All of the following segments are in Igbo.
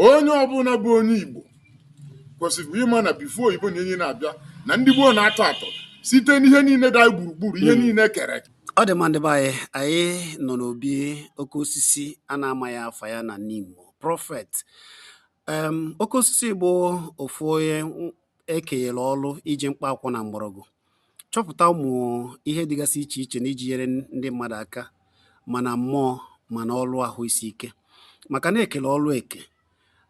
onye ọbụla bụ onye Igbo kwesịrị ịma na before oyibo na enyi na-abịa na ndị gboo na-atọ atọ site n'ihe niile dị anyị gburugburu ihe hmm. niile kere ọ dị mma ndị be anyị anyị nọ n'obi oke osisi a na-amagha afa ya na Nimo Prophet Oke Osisi bụ ofu onye e kenyere ọrụ iji mkpa akwụkwọ na mgbọrọgwụ chọpụta ụmụ ihe dịgasị iche iche na iji nyere ndị mmadụ aka ma na mmụọ ma na ọrụ ahụ isi ike maka na e kele ọrụ eke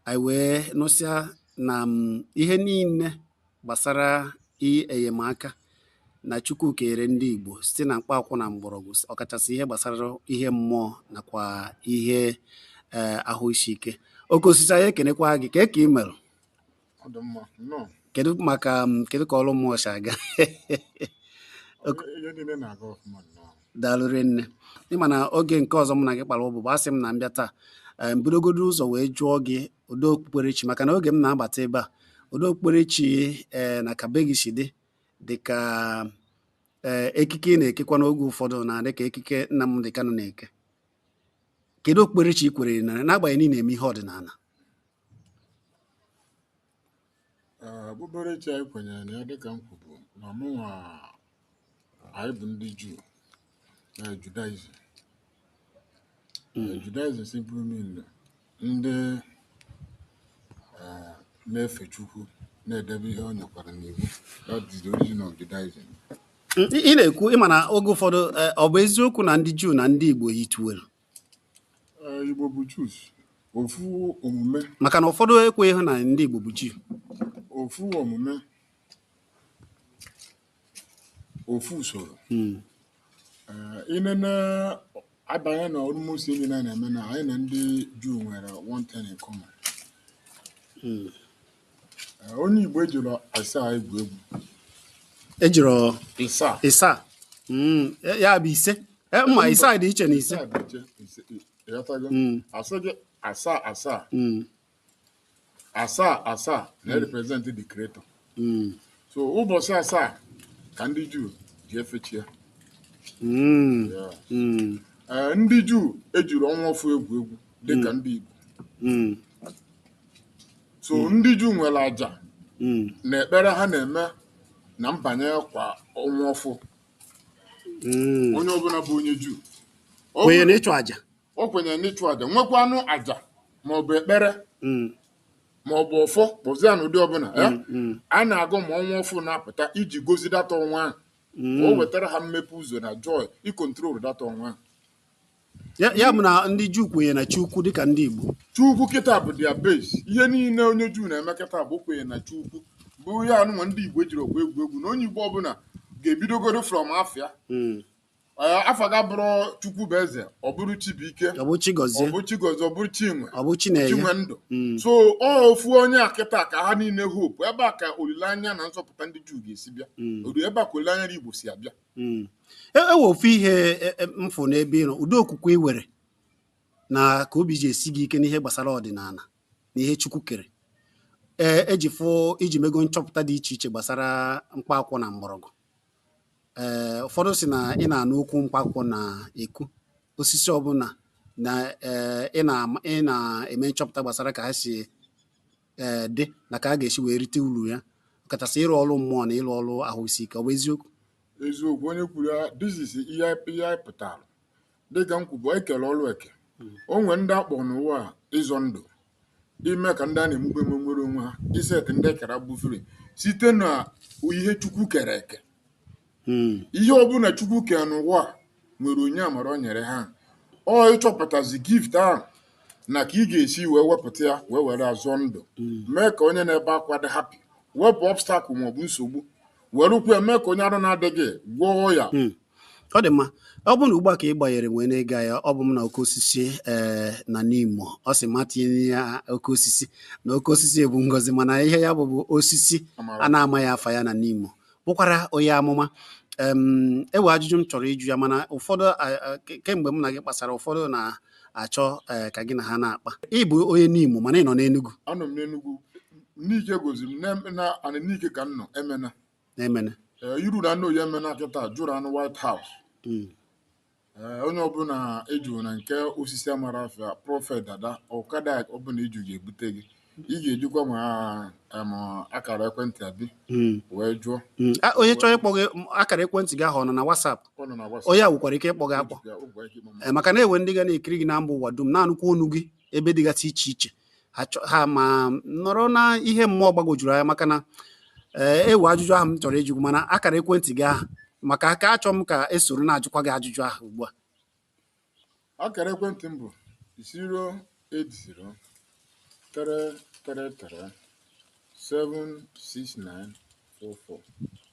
anyị wee nụsịa na mm, ihe niile gbasara enyemaka na Chukwu kenyere ndị Igbo site na mkpa akwụkwọ na mgbọrọgwụ ọkachasị ihe gbasara ihe mmụọ nakwa ihe eh, ahụ isi ike oke osisi anyị ekenekwa gị kee ka ị kedu maka um, kedu ka ọrụ mmụọ si aga daalụ rinne ị ma na oge nke ọzọ m na gị kpara ụbụbọ asị m na m bịa taa m bidogodu ụzọ wee jụọ gị ụdị okpukperechi maka na oge m na-abata ebe a ụdị okpukperechi eh, na ka be gị si dị dị ka eh, ekike ị na-ekekwa n'oge ụfọdụ na-adị ka ekike Nnamdi Kanu na-eke kedu okpukperechi ị kwere n'agbanyeghị na ị na-eme ihe ọdịnala Okpukperechi anyị kwenyere na ya dịka m kwubu na mụnwa anyị bụ ndị Juu na Judaism Judaism simply mean ndị eh, na-efe Chukwu na-edebe ihe o nyekwara n'iwu that is the origin of Judaism ị na-ekwu ị ma na oge ụfọdụ eh, ọ bụ eziokwu na ndị Juu na ndị Igbo yitere Igbo bụ Jews ofu omume maka na ụfọdụ ekweghị na ndị Igbo bụ Jew ofu omume ofu usoro hmm. i nene abanye na almost ihe niile a na-eme na anyị na ndị Juu nwere one thing in common hmm. onye Igbo ejirọ ịsaa egwu egwu ejirọ ịsa ịsaa hmm, ya bụ ise e, ma ịsaa dị iche na ise hmm. asị gị asaa asaa hmm. asaa asaa na-represent the creator so ụbọchị asaa ka ndị Juu ji efe chi ya e, ndị Juu ejirọ ọnwa ọfụ egwu egwu dịka ndị Igbo so hmm. ndị Juu nwere aja hmm. na ekpere ha na-eme na mbanye kwa ọnwa ọfụ hmm. onye ọbụla bụ onye Juu kwenye n'ịchụ aja o kwenye n'ịchụ aja nwekwanụ aja maọbụ ekpere maọbụ ọfọ kpọzie na ụdị ọbụla eh? a na-agọ ma ọnwa ọfụ na-apụta iji gozi that ọnwa ahụ o wetara ha mmepe ụzọ na joy ịcontrol that ọnwa ahụ ya bụ na ndị Juu kwenye na Chukwu dịka ndị Igbo Chukwu kịta bụ their base ihe niile onye Juu na-eme kịta bụ kwenye na Chukwu bụ ihe anyịnwa ndị Igbo jirọ egwu egwu na onye Igbo ọbụla ga-ebidogoro from afa hmm. Eh, afa ga-abụrụ chukwu bụ eze ọ bụrụ chibuike ọ bụ chigozie ọ bụ chigozie ọ bụrụ chinwe ọ bụ chinwe ndụ hmm. so ọ ofu onye a kịta ka ha niile hope ebe a ka olileanya na nzọpụta ndị juu ga-esi bịa hmm. ebe a ka olileanya igbo si abịa Mm. E e nwere ofu ihe e- e- m fụ n'ebe ị nọ ụdị okwukwe i nwere na ka obi ji esi gị ike n'ihe gbasara ọdịnala na ihe Chukwu kere ee eji fụ i ji mego nchọpụta dị iche iche gbasara mkpa akwụkwọ na mgbọrọgwụ ee ụfọdụ sị na ị na-anụ okwu mkpa akwụkwọ na-ekwu osisi ọbụla na ee ị na- ị na-eme nchọpụta gbasara ka ha si ee eh, dị na ka a ga-esi wee rite uru ya ọkachasị ịrụ ọrụ mmụọ na ịrụ ọrụ ahụ isi ike ọ bụ eziokwu eziokwu onye kwuru ya this is ihe anyị pụtara dịka m kwubu e kere ọrụ eke hmm. o nwere ndị a kpọ n'ụwa ịzọ ndụ ime ka ndị a na-emegbu emegbu nwere onwe ha iset ndị e kere agbụ free site na ihe chukwu kere eke hmm. ihe ọbụla chukwu kere n'ụwa nwere onyinye amara o nyere ha ọ ịchọpụtazi gift ahụ na ka ị ga-esi wee wepụta ya wee were zọọ ndụ hmm. mee ka onye na-ebe akwa dị happy wepụ obstacle maọbụ nsogbu werekwu ya mee ka onye arụ na-adịghị gwọọ ya hmm. ọ dị mma ọ bụrụ na ugbu a ka ị gbanyere wee na-ege ya ọ bụ m na oke osisi ee eh, na Nimo ọ sị m atinyena oke osisi na oke osisi bụ ngozi mana ihe ya bụ bụ osisi a na-amaghị afa ya na Nimo bụkwara onye amụma e nwe ajụjụ m chọrọ ịjụ ya mana ụfọdụ kemgbe m na gị kpasara ụfọdụ na-achọ e, ka gị na ha na-akpa ị bụ onye Nimo mana ị nọ n'Enugu anọ m n'Enugu Nike gozi m na anị Nike ka m nọ Emene na Emene e, i ruo na Oye Emene kịta jụrụ anụ White House hmm. Ee, onye ọbụla ị jụrụ na nke osisi amarọ afa Prophet Dada ọkada ọbụla ị jụ ga-ebute gị ị ga-ejikwa ma em, akara ekwentị abi Mm, wee jụọ mm. Ah, onye chọrọ ịkpọ gị m, akara ekwentị gị ahụ ọ nọ na WhatsApp ọ nọ na WhatsApp. onye a nwekwara ike ịkpọ gị akpọ Ejikwa- ọ bụ ike ịkpọ m. Eh, maka na e nwe ndị ga na-ekiri gị na mba ụwa dum na-anụkwa onu gị ebe dịgasị iche iche ha chọ- ha ma nọrọ na ihe mmụọ gbagwojuru anya maka na ee e nwe ajụjụ ahụ m chọrọ ịjụ gị mana akara ekwentị gị ahụ maka aka achọ m ka e soro na-ajụkwa gị ajụjụ ahụ ugbu a akara ekwentị m bụ 08033337694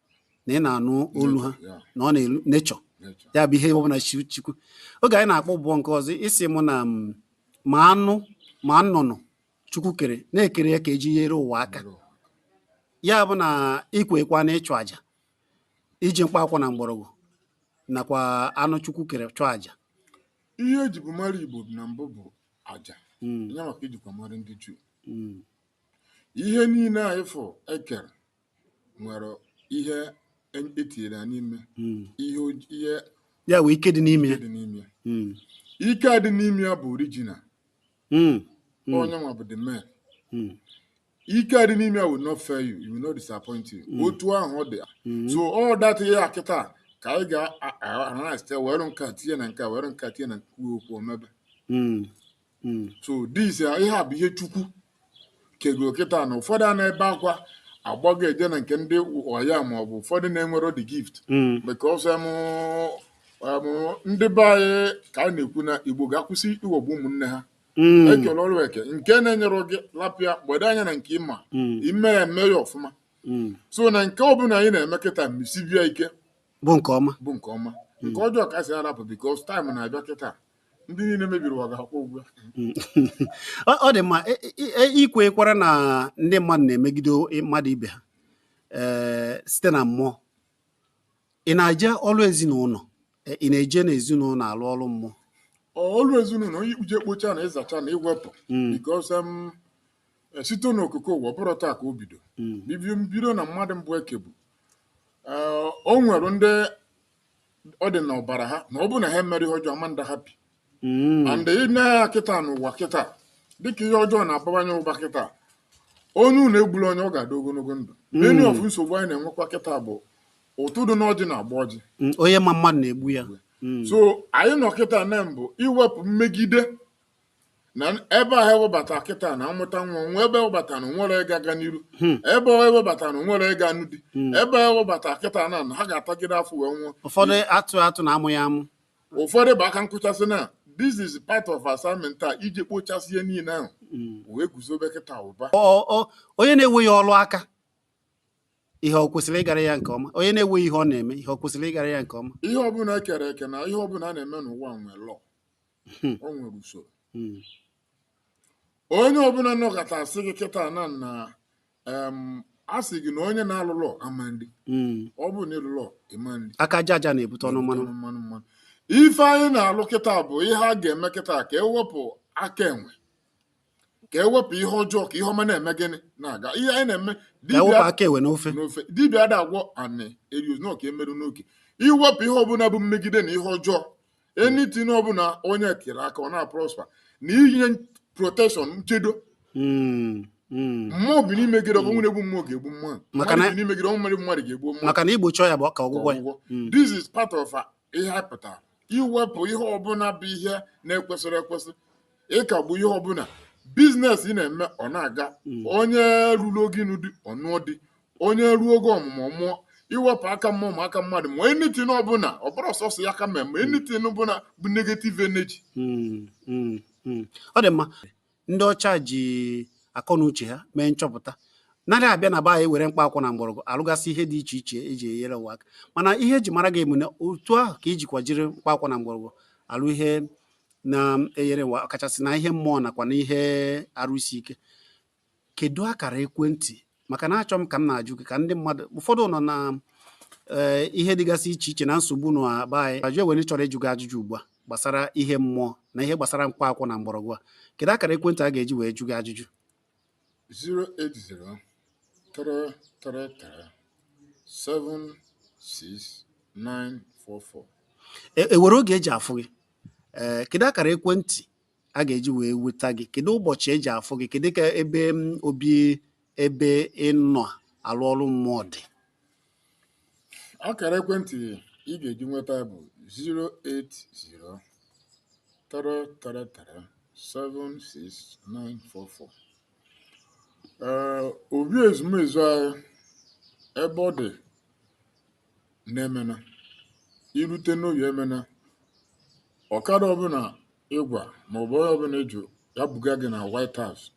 na ị na-anụ olu ha na ọ na-elu nature ya bụ ihe ọbụla chukwu oge anyị na-akpọ ụbọ nke ọzọ ị sị mụ na ma anụ ma nnụnụ chukwu kere na ekere ya ka eji nyere ụwa aka ya bụ na ikwekwa na ịchụ aja iji mkpa akwụkwọ na mgbọrọgwụ nakwa anụ chukwu kere chụọ aja ihe ejibu mara igbo na mbụ bụ aja hmm. ya maka ejikwa mara ndị juu hmm. ihe niile anyị fụ ekere nwere ihe etinyere ya n'ime hmm. ihe ihe ya wee ike dị n'ime ya hmm. ike dị n'ime ya bụ original hmm. onye nwa bụ the man ike dị n'ime ya will not fail you you will not disappoint you otu ahụ ọ dị so all that ihe a kịta ka anyị ga-analyze were nka tinye na nka were nka tinye na kwuo okwu omebe hmm. so this ihe a bụ ihe chukwu kego kịta na ụfọdụ a na-ebe akwa agbago eje na nke ndị ọya ma ọ bụ ụfọdụ na-enwero the gift hmm. because ndị be anyị ka a na-ekwu na igbo ga-akwụsị iwegbu ụmụnne ha hmm. ekele ọrụ eke nke na-enyero gị lapụ ya gbado anya na nke ị ma eme ya eme ya ọfụma so na nke ọbụla anyị na-eme kịta msibia ike bụ nke ọma bụ nke ọma nke ọjọọ ka si arapụ because time na-abịa kịta ndị niile mebiri ụwa ga-akwụ ụgwọ ọ dị mma e, e, e, ikwekwara na ndị mmadụ na-emegide mmadụ ibe ha site na mmụọ ị na-eje ọrụ ezinụlọ ị na-eje n'ezinụlọ alụ ọrụ mmụọ ọrụ ezinụlọ onye ikpuje kpocha na ịzacha na iwepụ hmm. because um, site n'okike ụwa ọ bụro taa ka o bido hmm. bido na mmadụ mbụ ekebu o nwere ndị ọ dị n'ọbara ha na ọ bụrụ na ha emero ihe ọjọọ ama na-adị happy Mm. and i nee anya kịta n'ụwa kịta dịka ihe ọjọọ na-abawanye ụba kịta onye unu egbula onye ọ ga-adị ogologo ndụ many of nsogbu anyị na-enwekwa kịta bụ ụtụ dị n'ọjị na-agba ọjị Mm, onye ma mmadụ na-egbu ya Mm. so anyị nọ kịta na-eme bụ iwepụ mmegide na ebe ahụ ewebata kịta na amụta nwa nwa ebe ewebata na nwero ịga aga n'iru Hmm. ebe ọ ewebata na nwero ịga anụ di Hmm. ebe ewebata kịta na na ha ga-atagide afọ wee nwụọ ụfọdụ atụ atụ na amụghị amụ ụfọdụ bụ aka nkụchasị na this is part of assignment a iji kpochasị ihe niile ahụ Mm. wee guzobe kịta ụba Ọ- ọ- onye na-enweghị ọrụ aka ihe ọ kwesịrị ịgara ya nke ọma onye na-enweghị ihe ọ na-eme ihe ọ kwesịrị ịgara ya nke ọma ihe ọbụla ekere eke na ihe ọbụla a na-eme n'ụwa nwere law hmm. o nwere usoro hmm. onye ọbụla nọkọta asị gị kịta na na a sị gị na onye na-alụlọ ama ndị hmm. ọ bụrụ na ịlụlọ ịma ndị aka aja aja na-ebute ọnụ mmanụ mmanụ mmanụ ife anyị na-alụ kịta bụ ihe a ga-eme kịta ka ewepụ aka enwe ka ewepụ ihe ọjọọ ka ihe ọma na-eme gịnị na-aga ihe anyị na-eme dibịa ada agwọ anị erios na ọka emerụ n'oke iwepụ ihe ọbụla bụ mmegide na ihe ọjọọ anything ọbụla onye tiri aka ọ na-prosper na inye protection nchedo Mm, mm. mmụọ bi n'imegide ọbụ ọnwụ na-egbu mmụọ ga-egbu mmụọ Maka mmadụ na- bi n'imegide ọbụ nwere mmadụ ga-egbu mmụọ maka na igbochi ọya bụ ọka ọgwụgwọ ya ọgwụgwọ. Mm. this is part of uh, ihe a pụtara iwepụ ihe ọbụla bụ ihe na-ekwesịrọ ekwesị ịkagbu ihe ọbụla business ị na-eme ọ na-aga onye ruru oge ịnụ di ọ nụọ di onye ruo oge ọmụmụ ọ mụọ iwepụ aka mmụọ ma aka mmadụ ma anything ọbụla ọ bụrọ sọsọ ya aka mmụọ ma anything ọbụla bụ negative energy Mm, mm, mm. ọ dị mma ndị ọcha ji akọ na uche ha mee nchọpụta narị abịa na be anyị were mkpa akwụkwọ na mgbọrọgwụ alụgasị ihe dị iche iche eji enyere ụwa aka mana ihe eji mara gị emune otu ahụ ka ijikwa jiri mkpa akwụkwọ na mgbọrọgwụ alụ ihe na-enyere ụwa kachasị na ihe mmụọ nakwa na ihe arụ isi ike kedu akara ekwentị maka na achọ m ka m na-ajụ gị ka ndị mmadụ ụfọdụ nọ na eh, ihe dịgasị iche iche na nsogbu na be anyị ajụ ewere chọrọ ịjụ gị ajụjụ ugbu a gbasara ihe mmụọ na ihe gbasara mkpa akwụkwọ na mgbọrọgwụ a kedu akara ekwentị a ga-eji wee jụ gị ajụjụ 080 333 76944 e, enwere oge eji afụ gị ee eh, kedu akara ekwentị a ga-eji wee nweta gị kedu ụbọchị eji afụ gị kedu ka ebe obi ebe ịnọ alụ ọrụ mmụọ dị akara ekwentị ị ga-eji nweta bụ 080 333 76944 ee obi ezumezu anyị ebe ọ dị n'Emene. I rute n'Oye Emene, ọkada ọbụla ị gwa maọbụ onye ọbụla ị jụ ya buga gị na White House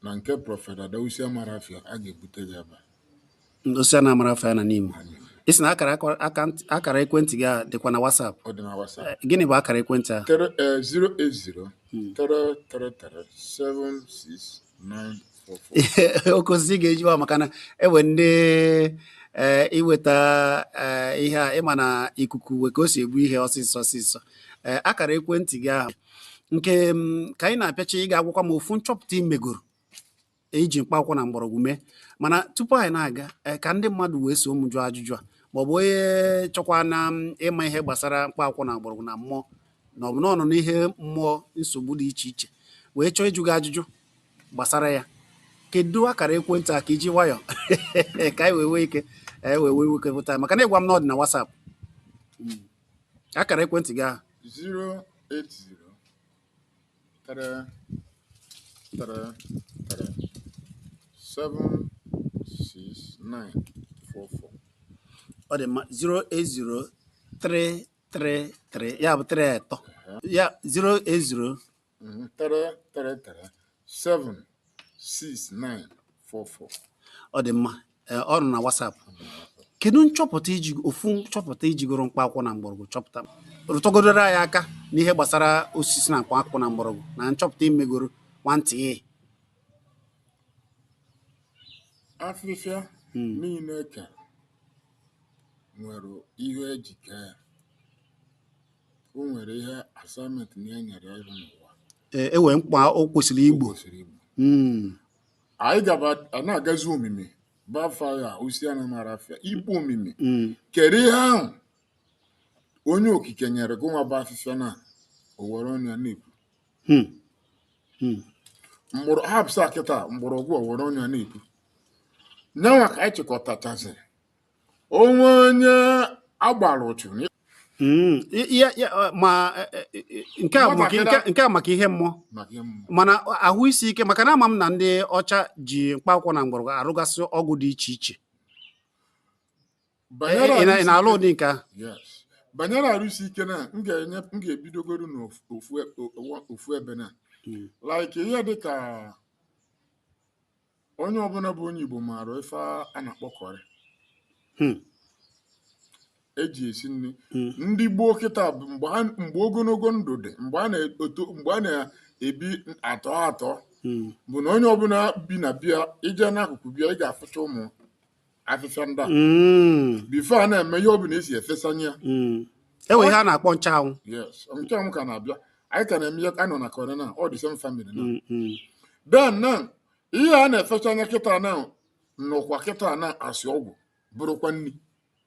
na nke Prọfet Adausi Amarafia a ga-ebute gị ebe a. Ndosi a na-amara afịa na Nimo. Ị sị na akara akwa- akant- akara ekwentị gị a dịkwa na WhatsApp. Ọ dị na WhatsApp. Eh, Gịnị bụ akara ekwentị a? Tere- eh, 080 333 7694. oke osisi ga-eji wa maka na enwe ndị eh, iweta eh, ihe a ịma na ikuku nwe ka o si egbu ihe ọsịsọ ọsịsọ eh, akara ekwentị gị ahụ nke mm, ka anyị na-apịacha ị ga-agwakwa m ofu nchọpụta ị megoro iji mkpa akwụkwọ na mgbọrọgwụ mee mana tupu anyị na-aga eh, ka ndị mmadụ wee so m jụọ ajụjụ a ma ọ bụ onye chọkwa na mm, ịma ihe gbasara mkpa akwụkwọ na mgbọrọgwụ na mmụọ na ọ bụ na ọ nọ n'ihe mmụọ nsogbu dị iche iche wee chọọ ịjụ gị ajụjụ gbasara ya kedu akara ekwentị a ka iji nwayọ ka anyị wee nwee ike wepụta maka na ị gwa m na ọ dị na WhatsApp hmm. akara ekwentị gị ahụ 08033376944 ọ dị mma 08033 ya bụ 3 atọ ya 080 Mm, 3 3 3 7 6 9 4 4 ọ dị mma Ee, ọ nọ na WhatsApp kedu nchọpụta iji ofu nchọpụta ijigoro mkpa akwụkwọ na mgbọrọgwụ chọpụta rụtọgodoro anyị aka n'ihe gbasara osisi na mkpa akwụkwọ na mgbọrọgwụ na nchọpụta imegoro nwantị ihe afịfịa Mm. niile e kere nwere ihe eji kee ya O nwere ihe assignment na e nyere ya ịrụ n'ụwa. Ee, e nwere mkpa o kwesịrị igbo. Mm, Anyị gaba a na-agazi omimi bafa ya osi a na-amara afịa ikpu omimi. mm, Kedu ihe ahụ onye okike nyere gị nwa bụ afịfịa na o were ọnụ ya na-ekwu. mm, mm. Mgbọrọ hapụsa kịta mgbọrọgwụ o were ọnụ ya na-ekwu. Nyanwa ka anyị chịkọtachaziri o nwe onye a gbara ụchụ hmm, ma e, e, e, nke a maka ihe mmụọ ma na ahụ isi ike maka na ama m na ndị ọcha ji mkpa akwụkwọ na mgbọrọgwụ arụgasị ọgwụ dị iche iche ị na-alụ ụdị nke a banyere arụ isi ike na m ga-ebidogoro n'ofu ebe na hmm. like ihe dịka onye ọbụla bụ onye Igbo maara ife a na-akpọ curry hmm. eji esi nri hmm. ndị gboo kịta bụ mgbe ogologo ndụ dị mgbe a na-ebi atọ atọ hmm. bụ na onye ọbụla bi na be ya ị je n'akụkụ be ya ị ga-afụcha ụmụ afịfịa ndị a Mm, before a na-eme ihe ọ bụla esi efesanye ya mm. e nwere ihe a na-akpọ nchụanwụ yes nchụanwụ ka na-abịa anyị ka na-eme ihe anọ na curry na all the same family na Mm, mm. then now ihe a na-efesanye kịta na nọkwa kịta na as ọgwụ bụrụkwa nri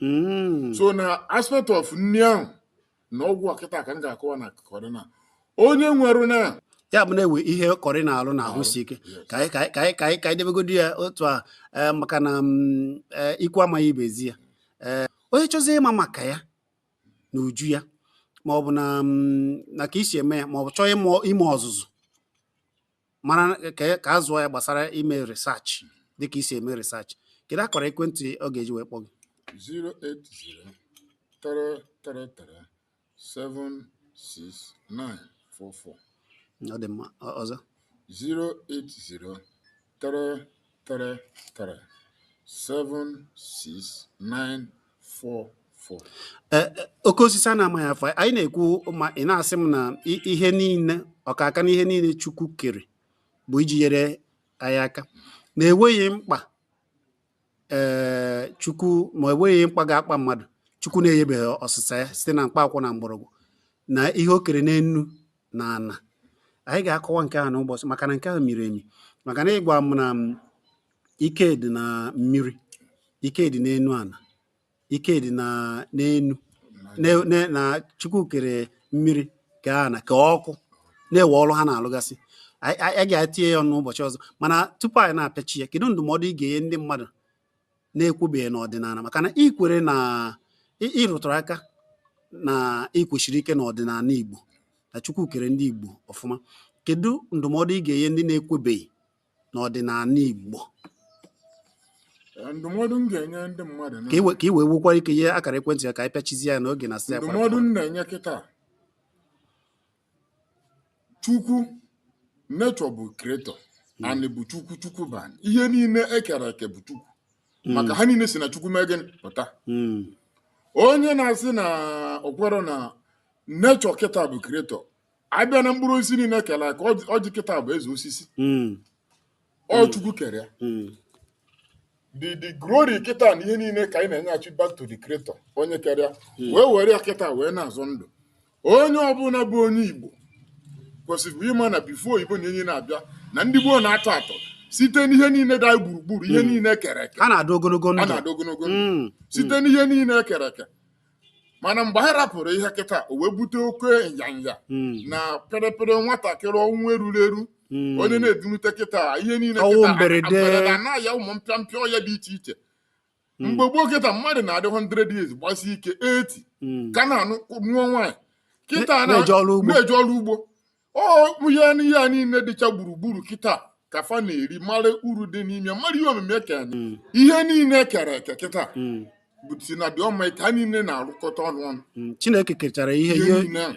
Mm, so na aspect of nri ahụ na ọgwụ a kịta ka m ga-akọwa na kọrị na onye nwere na ya bụ na-ewe ihe kọrị na-alụ na ahụ isi ike ka anyị ka anyị ka anyị ka anyị debegodi ya otu a eh, maka na mm, eh, ikwu amaghị ibe ezi ya eh, onye chọzi ịma maka ya na uju ya ma ọ bụ na mm, na ka i si eme ya ma ọ bụ chọọ ime ọzụzụ mara ka ka a zụọ ya gbasara ime research dịka i si eme research kedu akara ekwentị ọ ga-eji wee kpọọ gị 08033376944 ọ dị mma Ọ- ọzọ 08033 three three seven six nine four four. Eh, eh, oke osisi a na-amaghị afa anyị na-ekwu ma ị na-asị m na ihe niile ọkaka na ihe niile Chukwu kere bụ iji nyere anyị aka na e nweghị mkpa ee eh, Chukwu ma enweghị mkpa ga-akpa mmadụ Chukwu na-enyebeghị ọsịsa ya site na mkpa akwụkwọ na mgbọrọgwụ na ihe o kere n'enu na ana anyị ga-akọwa nke ahụ n'ụbọchị maka na nke ahụ miri emi maka na ị gwa m na mm, ike dị na mmiri ike dị n'enu ana ike dị na n'enu na chukwu kere mmiri ka ana ka ọkụ na-ewe ọrụ ha na-alụgasị anyị ga-etinye ya ọnụ ụbọchị ọzọ mana tupu anyị na-apịachi ya kedu ndụmọdụ ị ga-enye ndị mmadụ na-ekwebeghị n'ọdịnala maka na i kwere na ị rụtụrụ aka na i kwesiri ike n'ọdịnala Igbo na Chukwu kere ndị Igbo ọfụma kedu ndụmọdụ ị ga-enye ndị na-ekwebeghị n'ọdịnala Igbo ndụmọdụ m ga-enye ndị mmadụ ka i wee nwekwara ike nye akara ekwentị ya ka anyị pịachizie ya n'oge anasịa ndụmọdụ m na-enye kịta chukwu nature bụ creator hmm. anyị bụ chukwu chukwu bụ anyị ihe niile e kere eke bụ chukwu hmm. maka ha niile si na chukwu mee gịnị pụta hmm. onye na-asị na o kwero na nature kịta bụ creator a bịa na mkpụrụ osisi niile e kere eke ọjị kịta bụ eze osisi ọ hmm. chukwu kere ya hmm. the the glory kịta na ihe niile ka anyị na-enyeghachi back to the creator onye kere ya hmm. wee were ya kịta wee na-azọ ndụ onye ọbụla bụ onye igbo kwesịrị ịma na before oyibo na enyi na-abịa na ndị gboo na-atọ atọ site n'ihe niile dị anyị gburugburu ihe niile e kere eke a na-adị ogologo ndụ site n'ihe niile e kere eke mana mgbe anyị rapụrụ ihe kịta o wee bute oke nyanya hmm. na pịrịpịrị nwatakịrị ọnwụ eruro eru hmm. onye na-edunute kịta ihe niile mberede na ya ụmụ mpịa mpịa ọya dị iche iche hmm. mgbe gboo kịta mmadụ na-adị 100 years gbasi ike 80 ka na-anụ nụọ nwaanyị kịta na-eje ọrụ ugbo ọ ya n'ihe a niile dịcha gburugburu kịta ka fa na-eri mara uru dị n'ime mara ihe omume ka anyị mm. ihe niile e kere eke kịta mm. bụ si na dị ọma ike ha niile na-arụkọta ọnụ ọnụ mm. chineke kechara ihe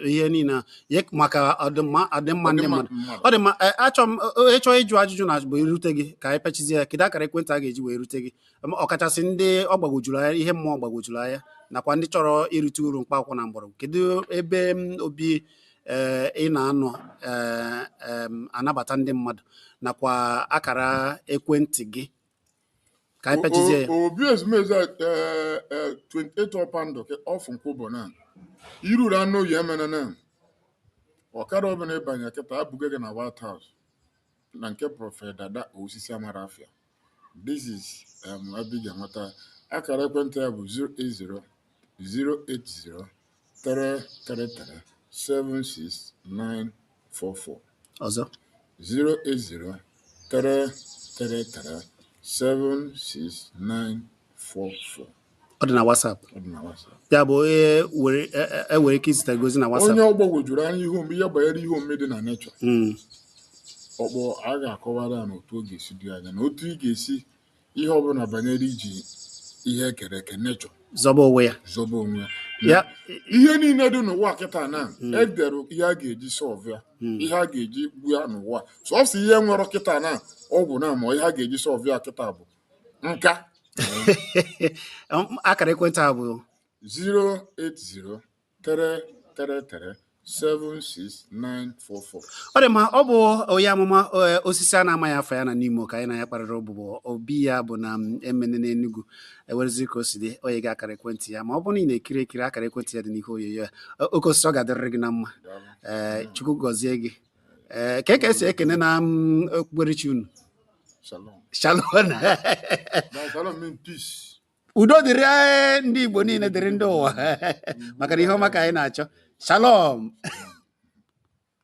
ihe niile a maka ọdịmma ọdịmma ndị mmadụ ọ dị mma e, achọ m ịchọ e, ịjụ ajụjụ na bụ irute gị ka anyị pịachizie ya kedu akara ekwentị a ga-eji wee rute gị ọkachasị ndị ọ gbagwojuru anya ihe mmụọ gbagwojuru anya nakwa ndị chọrọ irite uru mkpa akwụkwọ na mgbọrọgwụ kedu ebe obi ee ị na-anọ ee em, anabata ndị mmadụ nakwa akara ekwentị gị ka anyị pịachizie ya obi ezumezu a, eh, eh, 28 Ọpandụ ka off Nkwubor na i ruru n'Oye Emene na ọkada ọbụla ị banye kịta ebuga gị na White House na nke Prọfet Dada Osisi Amarafia. This is um, ebe ị ga-enweta akara ekwentị ya bụ 080-080-333-76944 ọzọ 080-333-76944 ọ dị na WhatsApp ọ dị na WhatsApp ya bụ onye were e- e- e nwere ike izite gị ozi na WhatsApp onye ọ gbagwojuru anya ihe omume ihe banyere ihe omume dị na nature Mm, ọ kpọọ a ga-akọwara ya na otu ọ ga-esi dị anya na otu ị ga-esi ihe ọbụla banyere iji ihe e kere eke nature zọba onwe ya zọba onwe ya na ya ihe niile dị n'ụwa kịta na edere ihe a ga-eji solve ya ihe a ga-eji gbo ya n'ụwa sọsọ ihe nwere kịta na ọgwụ na ma ihe a ga-eji solve ya kịta bụ nka akara ekwentị a bụ 08033 76944 ọ dị mma ọ bụ onye amụma eh, osisi a na-amaghị afa ya na Nimo ka anyị na ya kparara ụbụbọ obi ya bụ na mm, Emene n'Enugu ewerezi ka o si dị o nye gị akara ekwentị ya ma ọ bụrụ na ị na-ekiri ekiri akara ekwentị ya dị n'ihe onyonyo ya oke osisi ọ ga-adịrịrị gị na mma ee eh, Chukwu gọzie gị ee kee ka e si ekene na mm, okpukperechi unu Shalom. shalom Now, shalom mean peace. udo dịrị eh, ndị Igbo niile dịrị ndị ụwa maka na ihe ọma ka anyị na-achọ shalom